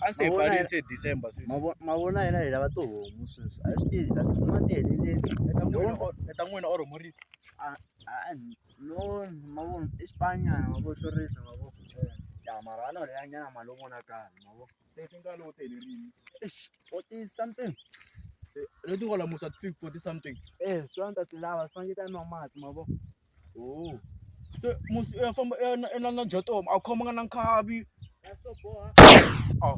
a se hi Mavona pfarile ya- se December sweswi Mavo- mavona hina hi lava tihomu sweswi a swi tivi ta tikuma ti heleleni Leta n'wina or- leta n'wina or murisi no mavona i xipanyana mavo xo risa mavo ya mara a no leya nyana mali yo vonakala mavo se ti nga lowu telerini forty something leti kwala musa ti fiki forty something eh swi vona ta ti lava swi fanele ti ta nwa mati mavo Oh. Se musi ya famba ya na na na jatomo a khomanga na nkhavi. Oh.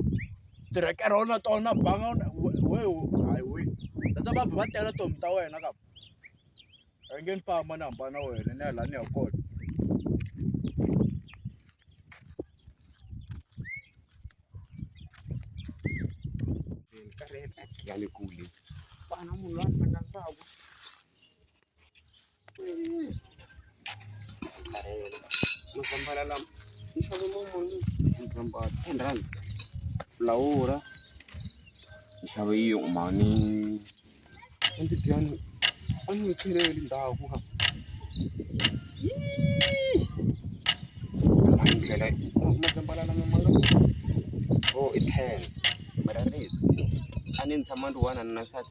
Tirekere ona tona banga ona we we hayi we. Tata va va tela tomi ta wena ka. A nge ni famba ni hambana wena ni ya la ni ya kona. Karhele ya le kule. Vana munhu loyi a ni rhandzaka. mazambhala lama ni xave momoni mazambhala ten rand fulawura ni xave yi umani a ndzi byani a ni yi cheleli ndhawu ku ka hayi ndlela mazambhala lama ma nga o i ten mara ni a ni tshama ni ri one a ni na nsati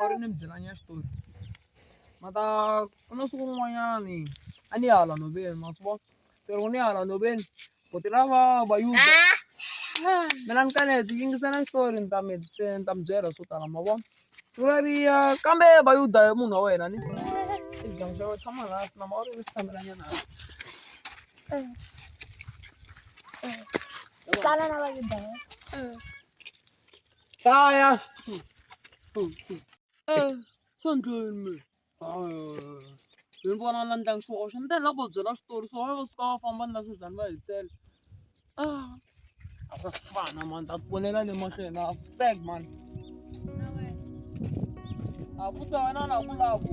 or ni mi byelanya xitori ma ta ku na siku rin'wanyani a ni ya hala nhoveni ma swi vona se loko ni ya hala nhoveni buti lava va yudza mina ni kanete yingisela xitori ni ta mi ni ta mi byela swo tala ma vona siku leriya kambe va yudza hi munhu wa wena ni xigangu xa wena tshama laha na ma u ri ni xitshambelanyana tala na va yudza Hlaya. Eh, Sonjeni. Hi vona na ndyangu xihoxo ni ta ni lava ku va byela xitori so va va suka va famba ni na Suzan va hi tsela. Ah, a swa fana mani ta ponela le mahlweni a fek mani. A ku ta wena na ku lava ku.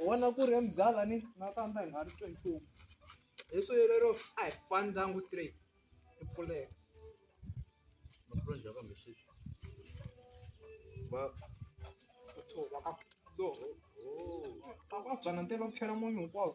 u vona ku ri muzala ni na tandza hi nga ri twe nchumu hi swi lero a hi fani ndyangu straight i pfuleka va ku tshova ka so va ku antswa na ntirho va ku chela munyu hinkwawo.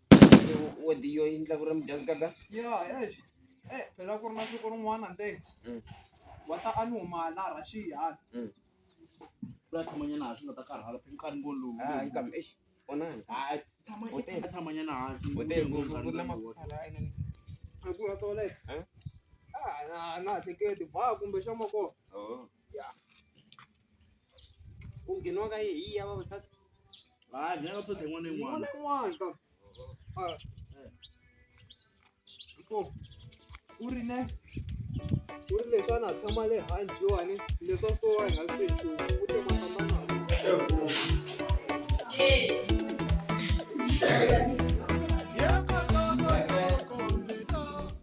odiyo yi endla ku ri mi dya nkaka ya eish eh phela ku ri na siku rin'wana nte mm. wa ta a ni huma la Russia mm. la tshamanyana hansi nga ta karhala phela nkarhi ngo lowu hayi kambe eish onani hayi tshamanyana tshamanyana hansi u te ngo nkarhi na makhala ene ku ya toleka eh? ah na na hleketi ba kumbe xa moko oh ku ngheniwa ka yi hi ya vavasati hayi ni nga tlhontlha yin'wana na yin'wana u ri ne u ri leswi a na tshama le handle yowani leswa so wa hi nga swi nchumu u te masamana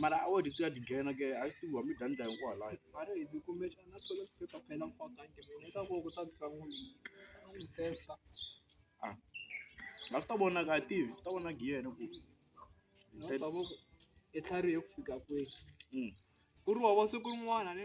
mara a wu ri siya ti nghena ke a swi tiviwa mi dya ni ta hinkwawo laha a ri hundzi kumbexana a toilet paper phela mi faka njhe mina ni ta ku loko u ta fika n'wi teka a a swi ta vonaka a tivi swi ta vonaka hi yena ku i tlharihe ku fika kwihi ku ri wa wa siku rin'wana ne.